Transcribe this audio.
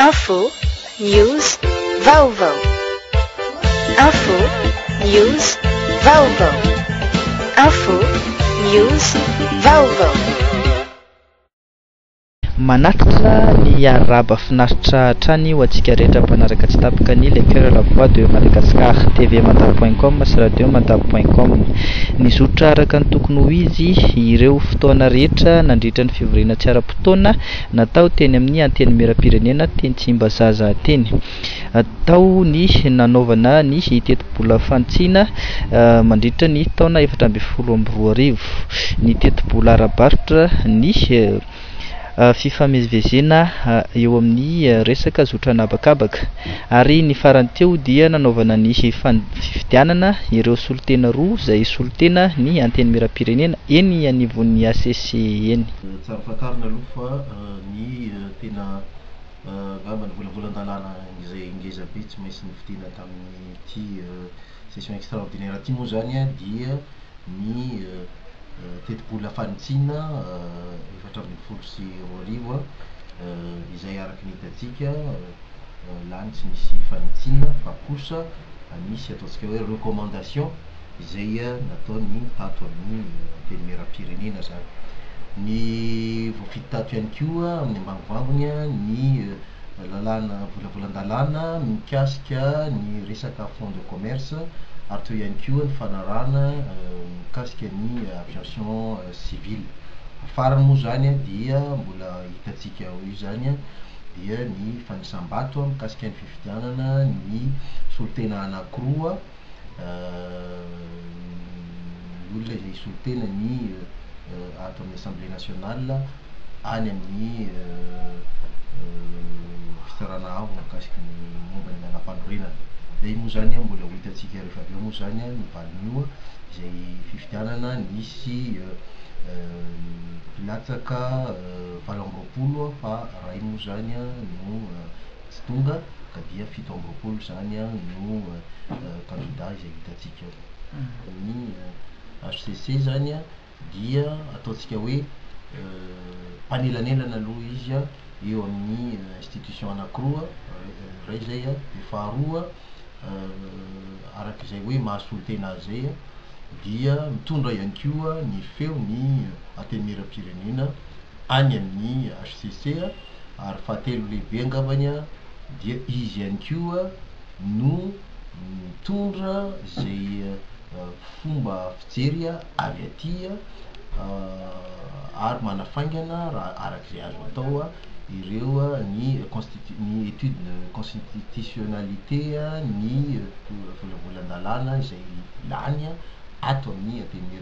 Info, news, vaovao. Info, news, vaovao. Info, news, vaovao. Manatrika ny arahaba finaritra hatrany ho antsika rehetra mpanaraka tsy tapaka ny Le Coeur la Voix de Madagascar, TV Mada point com sy Radio Mada point com. Nizotra araka ny tokony ho izy ireo fotoana rehetra nandritra ny fivoriana tsy ara-potoana, Natao teny amin'ny Antenimierampirenena teny Tsimbazaza teny. Tao ny nanaovana ny tetibola fanitsiana mandritra ny taona efatra ambin'ny folo amby roa arivo, ny tetibola ara-barotra, ny fifamezivezena eo amin'ny resaka zotra an'habakabaka ary ny farany teo dia nanaovana ny fifidianana ireo solontena roa izay solontena ny Antenimierampirenena eny anivon'ny HCC eny. Tsara fantarina aloha fa ny tena angamba nivolavolan-dalàna izay ngeza be tsy maintsy novidina tamin'ity session extraordinaire ity moa izany dia ny tetibola fanitsiana efatra ambin'ny folo sy roa arivo izay araka ny hitantsika lany tsy nisy fanitsiana fa kosa nisy ataontsika hoe recommandation izay nataony tato amin'ny Antenimierampirenena izany. Ny voafidy tato ihany koa amin'ny ambangovangony ny lalàna volavolan-dalàna mikasika ny resaka fonds de commerce ary teo ihany koa ny fanarahana mikasika ny aviation civile. Ny farany moa izany dia mbola hitantsika ho eo izany dia ny fanisam-bato mikasika ny fifidianana ny solontena anankiroa. ny olona izay hisolo tena ny ato amin'ny Assemblée nationale any amin'ny fitsarana avo mikasika ny momba ny lalàmpanorenana. Izay moa izany an, mbola ho hitantsika rehefa avy eo moa izany an, ny valin'io an, izay fifidianana nisy mpilatsaka valo amby roapolo fa iray moa izany an no. Tsy tonga ka dia fito amby roapolo izany no kandida izay hitantsika ao. Ny HCC izany dia ataontsika hoe mpanelanelana aloha izy eo amin'ny institution anankiroa, iray izay, dia faharoa araka izay hoe mahasolotena azy izay dia mitondra ihany koa ny feon'ny Antenimierampirenena. any amin'ny hcc ary fahatelo lehibe angambany dia izy ihany koa no mitondra izay fomba fijery avy aty ary manafaingana raha araka izay azo atao ireo ny constitu- ny étude de constitutionnalité ny volavolan-dalàna izay lany ato amin'ny antenimier